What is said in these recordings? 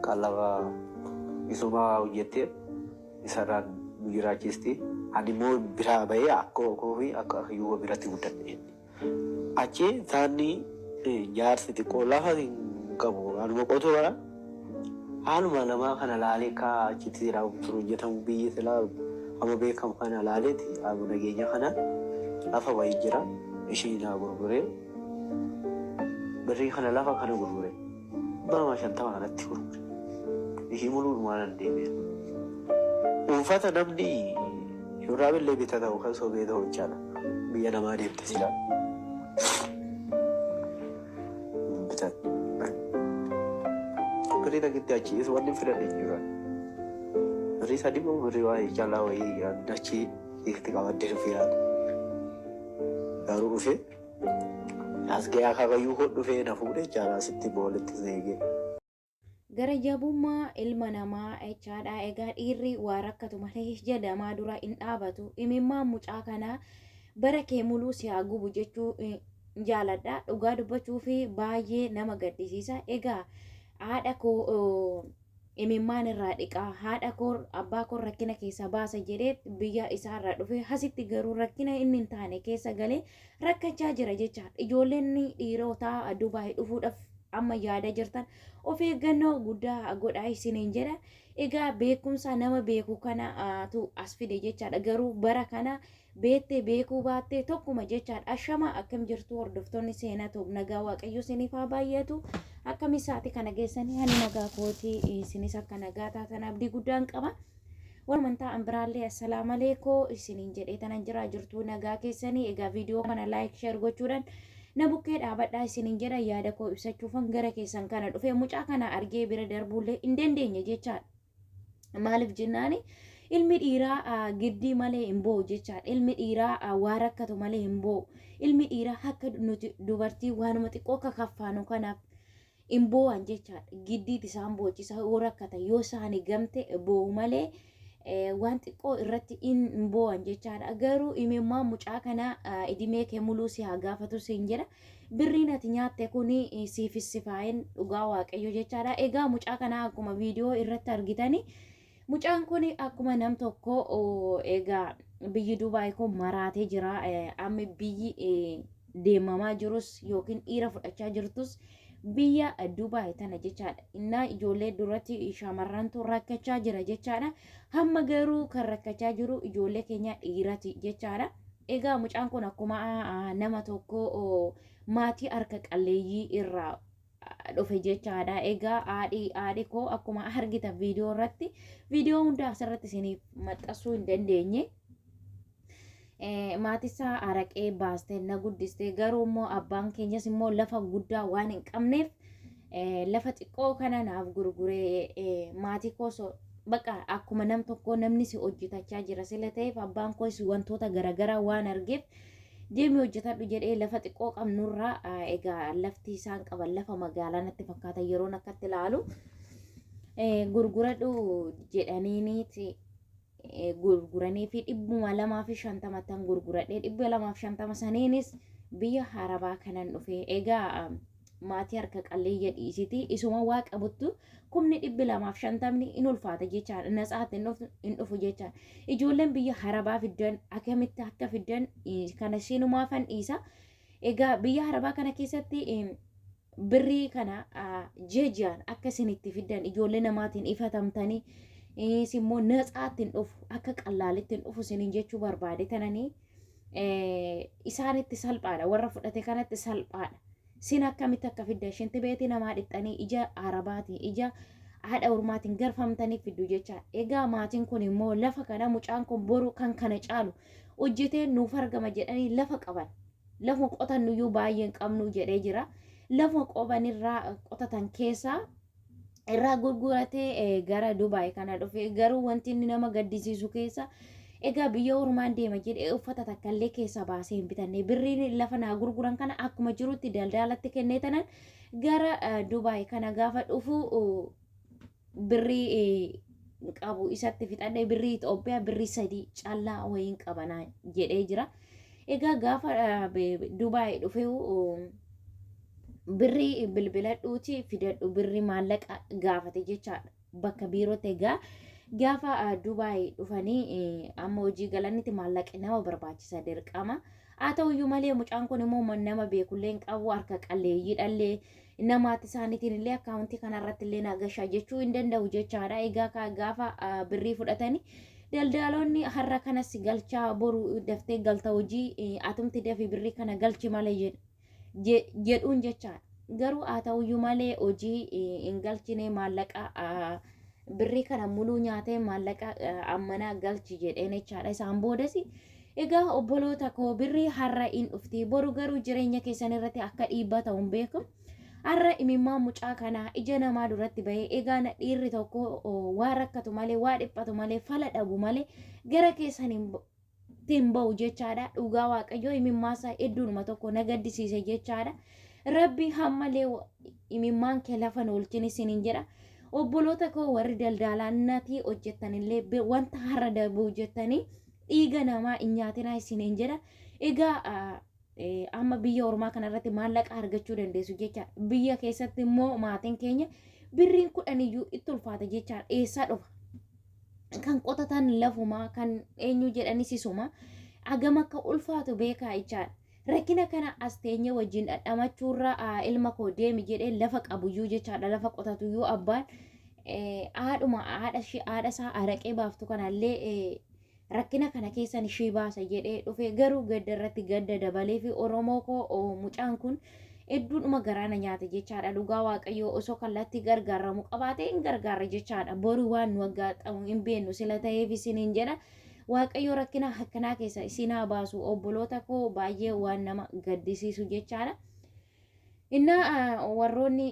kan lafa misoomaa hojjettee isarraa nu jiraachisti. Ani immoo biraa bahee akka koo fi akka hiyyummaa biratti guddadhe. Achi taanni jaarsi xiqqoo lafa hin qabu anuma qotuu bara haaluma namaa kana laalee akka achitti jedhaa kun hojjetamu biyyi silaa amma beekamu kana laaleeti abu nageenya kana lafa wayii jira ishii naa gurguree birrii kana lafa kana gurgure. Bama shantama kanatti gurgure. Bikii muluu dhumaanan deebi'e. Uffata namni shurraaba illee bita ta'u kan sobee ta'u jechaadha. Biyya namaa deemte sila. Bitan. Birrii takitti achi is wanni fidan hin jiran. Birrii sadii moo birrii waa caalaa wayii achi itti qabattee dhufe yaada. Garuu dhufe. As ga'ee akaakayyuu koo dhufee na fuudhe jechaadha asitti boolitti seegee. Gara jabummaa ilma namaa jechaadha. Egaa dhiirri waa rakkatu malee ija namaa dura hin dhaabatu. Imimmaan mucaa kanaa bara kee muluu si haa gubu jechuu eh, jaaladha. Dhugaa dubbachuuf baay'ee nama gaddisiisa. Egaa haadha koo oh, imimmaan irraa dhiqaa haadha koo abbaa koo rakkina keessa baasa jedhee biyya isaarraa dhufee hasitti garuu rakkina inni hin taane keessa galee rakkachaa jira jechaadha. Ijoolleen dhiirotaa Dubaay dhufuudhaaf amma yaada jirtan of eeggannoo guddaa godhaa isiniin jedha. Egaa beekumsa nama beeku kanaatu as fide jechaadha. Garuu bara kana Beettee beekuu baattee tokkuma jechaan ashamaa akkam jirtuu hordoftoonni seenaa tuub nagaa waaqayyoo isiniif haa baay'atu akkami isaati kana geessanii ani nagaa kootii isinis akka nagaa taatan abdii guddaan qaba warra amantaa ambiraallee assalaamu aleekoo isiniin jedhee tanan jiraa jirtuu nagaa keessanii egaa viidiyoo kana laayik sheer gochuudhaan na bukkee dhaabadhaa isiniin jedha yaada koo ibsachuufan gara keessan kana dhufee mucaa kana argee bira darbuullee hin dandeenye jechaadha. Maaliif jennaan ilmi dhiiraa giddii malee hin boo'u jechaadha. Ilmi dhiiraa waa rakkatu malee hin boo'u. Ilmi dhiiraa akka nuti dubartii waanuma xiqqoo akka kaffaanu kanaaf hin boo'an jechaadha. Giddiit isaan boochisa yoo rakkatan yoo isaani gamte boo'u malee waan xiqqoo irratti hin boo'an jechaadha. Garuu imimmaan mucaa kanaa idimee kee muluu si haa gaafatu siin jedha. Birriin ati nyaatte kun siifis sifaa'een dhugaa waaqayyo jechaadha. Egaa mucaa kana akkuma viidiyoo irratti argitani mucaan kun akkuma nam tokko egaa biyyi Dubaay kun maraatee jira. Amma biyyi deemamaa jirus yookiin dhiira fudhachaa jirtus biyya Dubaay tana jechaadha. Innaa ijoollee duratti shamarrantu rakkachaa jira jechaadha. Hamma garuu kan rakkachaa jiru ijoollee keenya dhiirati jechaadha. Egaa mucaan kun akkuma nama tokko maatii harka qalleeyyii irraa dhufe jechaadha. Egaa haadhi haadhi koo akkuma argitan viidiyoo irratti viidiyoo hundaa asirratti isiniif maxxansuu hin dandeenye. maatisaa araqee baastee na guddiste garuu immoo abbaan keenyas immoo lafa guddaa waan hin qabneef lafa xiqqoo kana naaf gurguree maatii koos baqa akkuma nam tokkoo namni si hojjetachaa jira sila ta'eef abbaan koos wantoota garaagaraa waan argeef deemi hojjetadhu jedhee lafa xiqqoo qabnurraa egaa lafti isaan qaban lafa magaalaa natti fakkaata yeroon akkatti ilaalu gurguradhu jedhaniiniiti gurguranii fi dhibbuma lamaa fi shantama tan gurguradhee dhibba lamaa fi shantama saniinis biyya harabaa kanan dhufe egaa maatii harka qalleeyya dhiisiti isuma waa qabuttu kumni dhibbi lamaaf shantamni in ulfaata jechaan in natsaatti in dhufu jechaan ijoolleen biyya harabaa fiddan akkamitti akka fiddan kana siinumaafan dhiisa egaa biyya harabaa kana keessatti birrii kana ji'a ji'aan akka isin itti fiddan ijoollee namaatiin ifatamtanii is immoo natsaatti hin dhufu akka qallaalitti hin dhufu isiniin jechuu barbaade tananii isaanitti salphaadha warra fudhate kanatti salphaadha sin akkamitti akka fidda ishinti beetii namaa dhixxanii ija arabaatiin ija haadha ormaatiin garfamtanii fiddu jecha egaa maatiin kun immoo lafa kana mucaan kun boru kan kana caalu hojjeteen nuuf argama jedhanii lafa qaban Lafuma qotannuyyuu baay'ee hin qabnu jedhee jira. Lafuma qobanirraa qotatan keessaa irraa gurguratee eh, gara Dubaay kana dhufe garuu wanti inni nama gaddisiisu keessa egaa biyya ormaan deema jedhee uffata takka illee keessa baasee hin bitanne birriin lafa naa gurguran kana akkuma jirutti daldaalatti kennee tanan gara eh, Dubaay kana gaafa dhufu uh, birrii eh, qabu isatti fixadhee birrii Itoophiyaa birrii sadii callaa wayiin qabanaa jedhee jira. Egaa gaafa eh, be- be- Dubaay dhufee oh, birrii bilbiladhuuti fidadhu birrii maallaqa gaafate jechaadha bakka biirootti egaa gaafa ah, Dubaay dhufanii eh, amma hojii galanitti maallaqi nama barbaachisa dirqama. Haa ta'uyyuu malee mucaan kun immoo man- nama beekullee hin qabu harka qalleeyyiidhallee Inna maatii isaaniitiin illee akkaawuntii kana irratti illee naa gashaa jechuu hin danda'u jechaadha. Egaa kaa gaafa ah, birrii fudhatanii daldaloonni har'a kanas galchaa boru daftee galta hojii eh, atumti dafi birrii kana galchi malee jedhu. je- jedhuun jechaadha. Garuu haa ta'uyyuu malee hojii eh, hin galchine maallaqa ah, birrii kana muluu nyaatee maallaqa ammanaa galchi jedheen jechaadha isaan boodasi egaa obboloota koo birrii har'a in dhufti boru garuu jireenya keessan irratti akka dhiibbaa ta'u hin beeku har'a imimmaan mucaa kanaa ija namaa duratti ba'ee egaa na dhiirri tokko waa rakkatu malee waa dhiphatu malee fala dhabu malee gara keessan hin ittiin ba'u jechaadha dhugaa waaqayyoo imimmaasaa hedduunuma tokko na gaddisiise jechaadha rabbi hammalee wa- imimmaan kee lafa hin oolchin isiniin jedha obboloota koo warri daldaalaa natii hojjettanillee be- wanta har'a darbuuf jettanii dhiiga namaa hin nyaatinaa isiniin jedha egaa ah, amma biyya ormaa kanarratti maallaqa argachuu dandeessu jecha biyya keessatti immoo maatiin keenya birriin kudhan iyyuu itti ulfaata jecha eessaa dhufa kan qotatan lafumaa kan eenyu jedhanis isuma agam akka ulfaatu beekaa jechaan rakkina kana as teenye wajjin dhadhamachuurra ilma koo deemi jedhee lafa qabuyyuu jechaadha lafa qotatuyyuu abbaan haadhuma haadha isaa araqee baaftu kanallee Rakkina kana keessan ishee baasa jedhee dhufe garuu gadda irratti gadda dabaleefi Oromoo koo mucaan kun hedduudhuma garaa na nyaate jechaadha dhugaa waaqayyoo osoo kallattii gargaaramu qabaatee hin gargaarre jechaadha boru waan nu aggaatamu hin beennu sila ta'eef isiniin jedha waaqayyoo rakkina akkanaa keessa isin haa baasu obboloota koo baay'ee waan nama gaddisiisu jechaadha. Innaa warroonni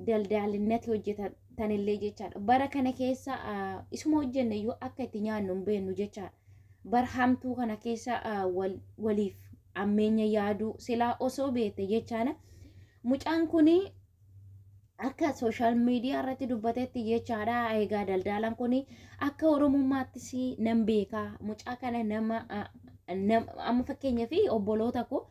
daldaalinatti hojjetanillee jechaadha. Bara kana keessa isuma hojjenne iyyuu akka itti nyaannu hin beennu jechaadha. Bara hamtuu kana keessa waliif ammeenya yaaduu silaa osoo beekte jechaadha. Mucaan kun Akka sooshaal miidiyaa irratti dubbatetti jechaadha. Egaa daldaalaan kun akka oromummaattis nan beeka. Mucaa kana nama amma fakkeenya fi obboloota koo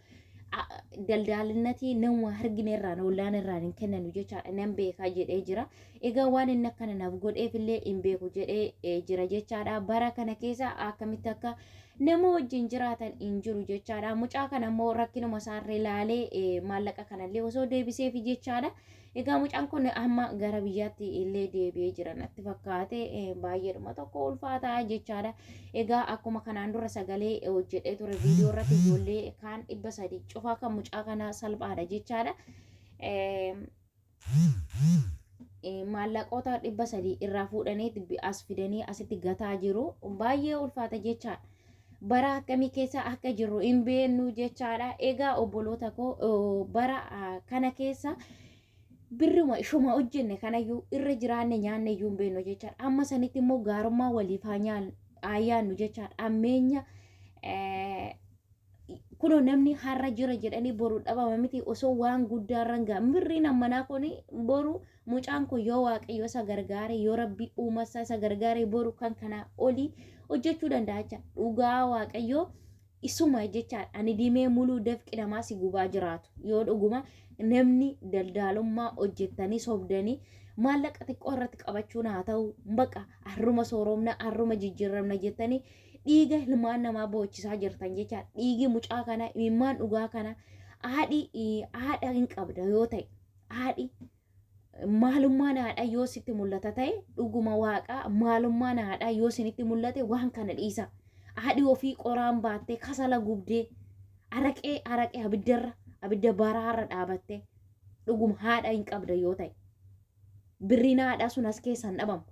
daldaalinnatii nama argine irraan ollaan irraan hin kennanu jechaadha nan beekaa jedhee jira. Egaa waan inni akkana naaf godheef illee hin beeku jedhee jira jechaadha. Bara kana keessa akkamitti akka nama wajjin jiraatan hin jiru jechaadha. Mucaa kana immoo rakkinuma isaarra ilaalee eh, maallaqa kanallee osoo deebiseefi jechaadha. Egaa mucaan kun amma gara biyyaatti illee deebi'ee jira natti fakkaate eh, baay'eedhuma tokko ulfaataa jechaadha. Egaa akkuma kanaan dura sagalee eh, hojjedhee ture viidiyoo irratti ijoollee kaan dhibba sadii cufaa kan mucaa kanaa salphaadha jechaadha. Eh, eh, maallaqoota dhibba sadii irraa fuudhanii itti bi- as fidanii asitti gataa jiru baay'ee ulfaata jechaadha. bara akkamii keessa akka jirru hin beeknu jechaadha. Egaa obboloota koo oo, bara ah, kana keessa birruma ishuma hojjenne kanayyuu irra jiraanne nyaanne iyyuu hin beeknu jechaadha. Amma sanitti immoo gaarummaa waliif haa nyaan- haa yaannu jechaadha. Ammeenya eh, kuno namni har'a jira jedhanii boru dhabama miti osoo waan guddaa irra hin ga'a mirriin ammanaa kun boru mucaan kun yoo waaqayyo isa gargaare yoo rabbi uumasa isa gargaare boru kan kanaa olii hojjechuu danda'a jecha dhugaa waaqayyo isuma jecha ani dimee muluu dafqi namaa si gubaa jiraatu yoo dhuguma namni daldaalummaa hojjettanii sobdanii maallaqa xiqqoo irratti qabachuun haa ta'u baqa harruma sooromna harruma jijjiiramna jettanii dhiiga ilmaan namaa boochisaa jirtan jecha dhiigi mucaa kana imimmaan dhugaa kana haadhi haadha hin qabda yoo ta'e haadhi maalummaan haadhaa yoo sitti mul'ata ta'e dhuguma waaqaa maalummaan haadhaa yoo sinitti mul'ate waan kana dhiisa haadhi ofii qoraan baattee kasala gubdee araqee araqee abiddarra abidda baraarra dhaabattee dhuguma haadha hin qabda yoo ta'e birriin haadhaa sun as keessaan dhabamu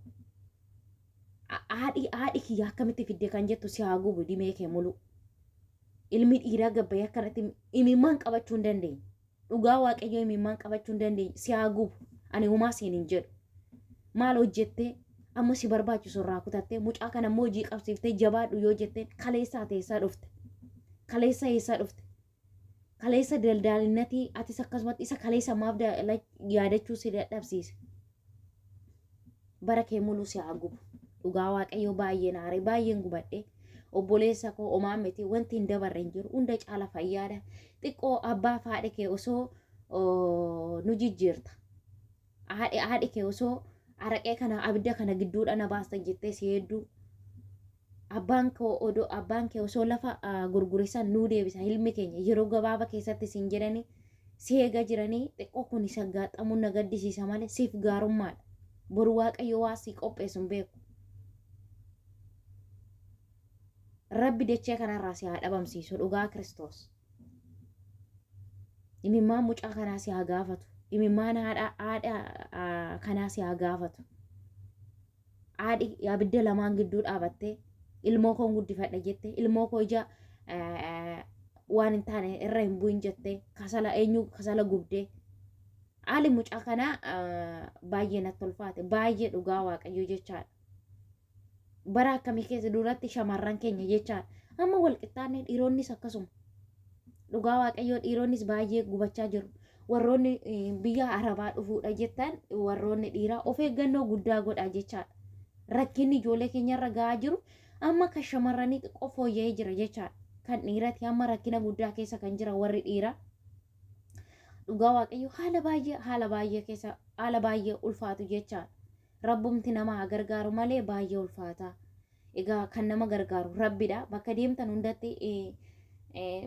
haadhi haadhi kiyya akkamitti fidde kan jettu si haa gubu dimee kee mulu ilmi dhiiraa gabbayee akkanatti imimmaan qabachuu hin dandeenye dhugaa waaqayyoo imimmaan qabachuu hin dandeenye si haa gubu ani humaa siin hin jedhu maal hojjettee amma si barbaachisu irraa kutattee mucaa kana immoo hojii qabsiiftee jabaadhu yoo jetteen kaleessaa teessaa dhufte kaleessaa eessaa dhufte kaleessa daldaalinnatii atis akkasumatti isa kaleessa maaf da- like yaadachuu si dadhabsiise bara kee muluu si haa gubu dhugaa waaqayyoo baay'ee naaree baay'een gubadhe obboleessa koo omaa miti wanti hin dabarre hin jiru hunda caala fayyaadha xiqqoo abbaa faadhe kee osoo oo, nu jijjiirta haadhi haadhi kee osoo araqee kana abidda kana gidduudha na baastan jettee si hedduu abbaan koo odoo abbaan kee osoo lafa gurgurisan nuu deebisa ilmi keenya yeroo gabaaba keessatti siin jedhanii si eega jiranii xiqqoo kun isa gaaxxamuun na gaddisiisa malee siif gaarummaadha boru waaqayyo waa sii qopheessu hin beeku rabbi dachee kanarraa si haa dhabamsiisu dhugaa kiristoos. imimmaan mucaa kanaa si haa gaafatu imimmaan haadha haadha aa, kanaa si haa gaafatu haadhi abidda lamaan gidduu dhaabattee ilmoo koon guddifadha jette ilmoo koo ija aa, waan hin taane irra hin bu'in jette kasala eenyu kasala gubdee haali mucaa kanaa aa, baay'ee natti tolfaate baay'ee dhugaa waaqayyoo jechaadha bara akkamii keessa duratti shamarran keenya jechaa amma walqixxaannee dhiironnis akkasuma dhugaa waaqayyoo dhiironnis baay'ee gubachaa jiru warroonni eh, biyya arabaa dhufuudha jettan warroonni dhiiraa of eeggannoo guddaa godhaa jechaadha rakkinni ijoollee keenyarra ga'aa jiru amma kan shamarranii xiqqoo fooyya'ee jira jechaadha kan dhiirati amma rakkina guddaa keessa kan jira warri dhiiraa dhugaa waaqayyo haala baay'ee haala baay'ee keessa haala baay'ee ulfaatu jechaadha Rabbumti nama haa gargaaru malee baay'ee ulfaata. Egaa kan nama gargaaru Rabbidha. Bakka deemtan hundatti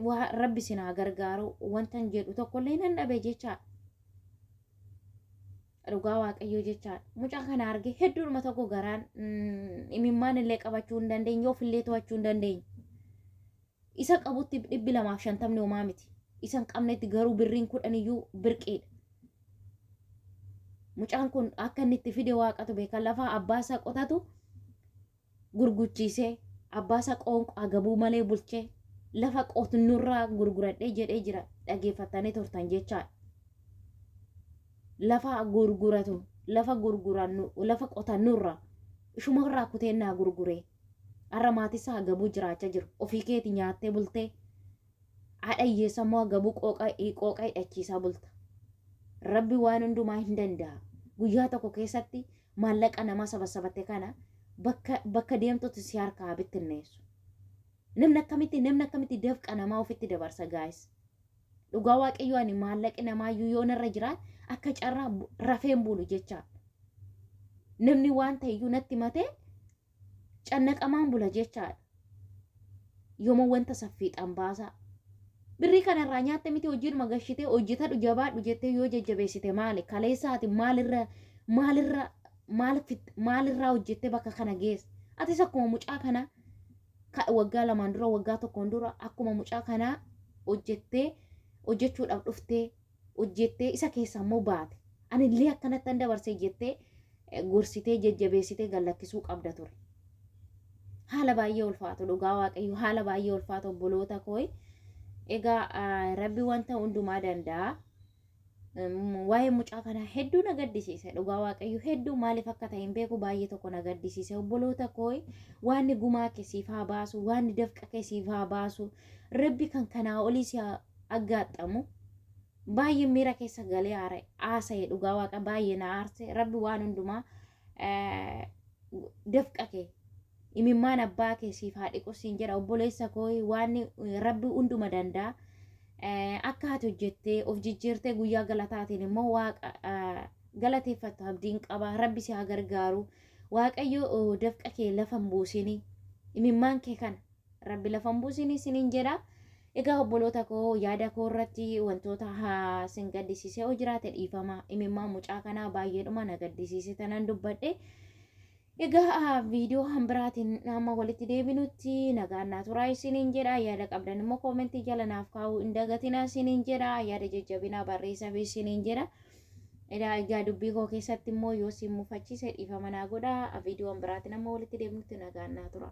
waa Rabbi isin haa gargaaru wantan jedhu tokkollee nan dhabe jecha dhugaa waaqayyoo jecha mucaa kana arge hedduudhuma tokko garaan imimmaan illee qabachuu hin dandeenye ofillee to'achuu hin dandeenye. Isa qabutti dhibbi lamaaf shantamni homaa miti. Isa hin qabnetti garuu birriin kudhan iyyuu birqiidha. Mucaan kun akka inni itti fide waaqatu beeka. Lafaa abbaa isaa qotatu gurguchiisee abbaa isaa qoonqoo agabuu malee bulchee lafa qotnurraa gurguradhee jedhee jira dhageeffattanii turtan jechaadha. Lafa gurguratu lafa gurgurannu lafa qotannurraa ishumarraa kutee naa gurguree. Har'a maatisaa hagabuu jiraacha jiru. Ofii keeti nyaattee bultee haadha hiyyeessa immoo hagabuu qooqa qooqa hidhachiisaa bulta. Rabbi waan hundumaa hin danda'a. Guyyaa tokko keessatti maallaqa namaa sabasabatte kana bakka bakka deemtutti si harkaa haa bittinneessu. Namni akkamitti namni akkamitti dafqa namaa ofitti dabarsa gaa'is. Dhugaa waaqayyoo ani maallaqi namaayyuu yoo narra jiraat akka carraa bu- rafeen bulu jechaa. Namni waan ta'eyyuu natti matee cannaqamaan bula jechaadha. Yooma wanta saffiixaan baasaa. Birrii kanarraa nyaatte miti hojiidhuma gashitee hojjetadhu jabaadhu jettee yoo jajjabeessite maali? Kaleessa ati maalirra maalirra maal fit- maalirraa hojjettee bakka kana geesse? Atis akkuma mucaa kanaa ka- waggaa lamaan dura waggaa tokkoon dura akkuma mucaa kanaa hojjettee hojjechuudhaaf dhuftee hojjettee isa keessaa immoo baate ani illee akkanatti an dabarse jettee eh, gorsitee jajjabeessitee gallakkisuu qabda ture haala baay'ee ulfaatu dhugaa waaqayyo haala baay'ee ulfaatu obboloota kooyi egaa ah, rabbi wanta hundumaa danda'a waa'ee mucaa kanaa hedduu na gaddisiise dhugaa waaqayyo hedduu maaliif akka ta'e hin beeku baay'ee tokko na gaddisiise obboloota kooy waanni gumaa kee siif haa baasu waanni dafqa kee siif haa baasu rabbi kan kanaa olii si haa aggaaxxamu baay'ee miira keessa galee haasa'e dhugaa waaqa baay'ee na aarse rabbi waan hundumaa eh, dafqa kee imimmaan abbaa kee siif haa dhiqu siin jedha obboleessa koo waan eh, rabbi hunduma danda'a Eh, akka ati hojjettee of jijjiirtee guyyaa galataatiin immoo waaqa eh, galateeffattu abdiin qaba rabbi si haa gargaaru waaqayyo oh, dafqa kee lafa hin buusini imimmaan kee kana Rabbi lafa hin buusin isiniin jedha. Egaa obboloota koo yaada koo irratti wantoota haa sin gaddisiisee yoo jiraate dhiifama imimmaa mucaa kanaa baay'eedhuma na gaddisiise tanan dubbadhe. Egaa viidiyoo kan biraatiin amma walitti deebinutti nagaan naa turaa isiniin jedha. Yaada qabdan immoo koomentii jala naaf kaa'uu hin dagatinaa isiniin jedha. Yaada jajjabinaa barreessaa fi isiniin jedha. Edaa egaa dubbii koo keessatti immoo yoo siin mufachiise dhiifama naa godhaa. Viidiyoon biraatiin amma walitti deemnutti nagaan naa tura.